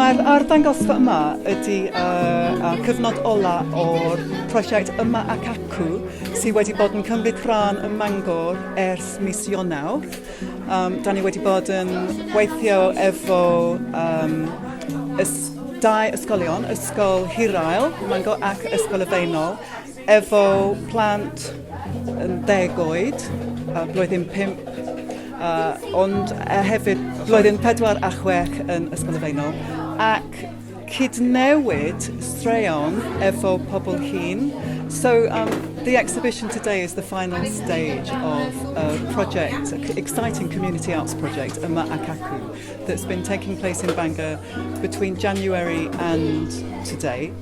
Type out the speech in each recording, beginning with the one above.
Mae'r arddangosfa yma ydy uh, uh, cyfnod ola o'r prosiect Yma ac Acw sydd wedi bod yn cymryd rhan ym Mangor ers mis Ionawr. Um, da ni wedi bod yn gweithio efo um, ys dau ysgolion, Ysgol Hirael, Mangor ac Ysgol y Feinol, Efo plant yn deg oed, a blwyddyn pump, a, ond a hefyd blwyddyn pedwar a chwech yn Ysgol y Faenol, ac cydnewid straeon efo pobl hŷn. So um, the exhibition today is the final stage of a project, an exciting community arts project, Yma ac Acw, that's been taking place in Bangor between January and today.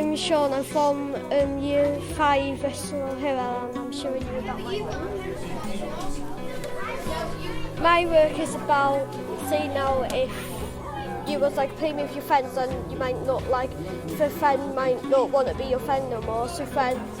I'm Sean, I'm from um, year 5 Bristol Hill and I'm showing you about my work. My work is about, say now, if you was like playing with your friends and you might not like, if a friend might not want to be your friend no more, so friends